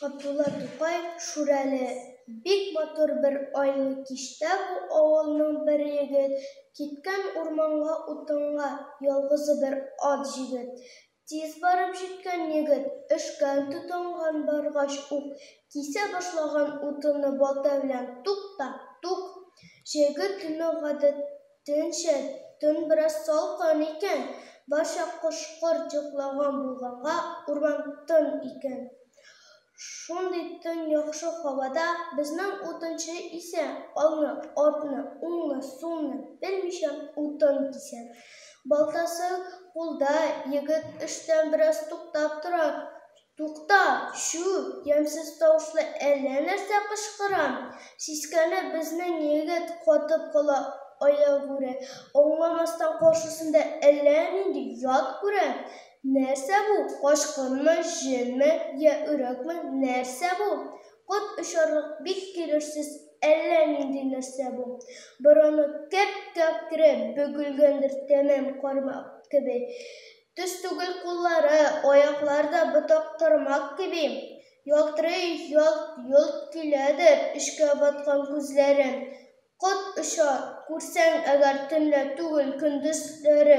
Габдулла Тукай Шүрәле бик матур бер айлы кичтә бу авылның бер егет киткән урманга утынга ялгызы бер ат җигеп Тиз барып җиткән егет, өшкән тотынган баргач ук, кисә башлаган утыны балта белән тук та тук! Җәйге төнне гадәтенчә, төн бераз салкын икән, барча кош-корт йоклаган булганга, урман тын икән. Шундый тын яхшы һавада безнең утынчы исә алны, артны, уңны, сулны белмичә утын кисә. Балтасы кулда, егет эштән бераз туктап тора. Тукта, чү! ямьсез тавышлы әллә нәрсә кычкыра. Сискәнеп безнең егет катып кала аягүрә, аңламастан каршысында әллә нинди ят күрә. Нәрсә бу, качкынмы, җенме, йә өрәкме, нәрсә бу? Кот очарлык бик килешсез әллә нинди нәрсә бу. Борыны кәп-кәкре, бөгелгәндер тәмам кармак кеби. Төз түгел куллары, аяклар да ботак кармак кеби. Ялтырый, ялт-йолт киләдер эчкә баткан күзләре. Кот оча, күрсәң әгәр төнлә түгел, көндезләре.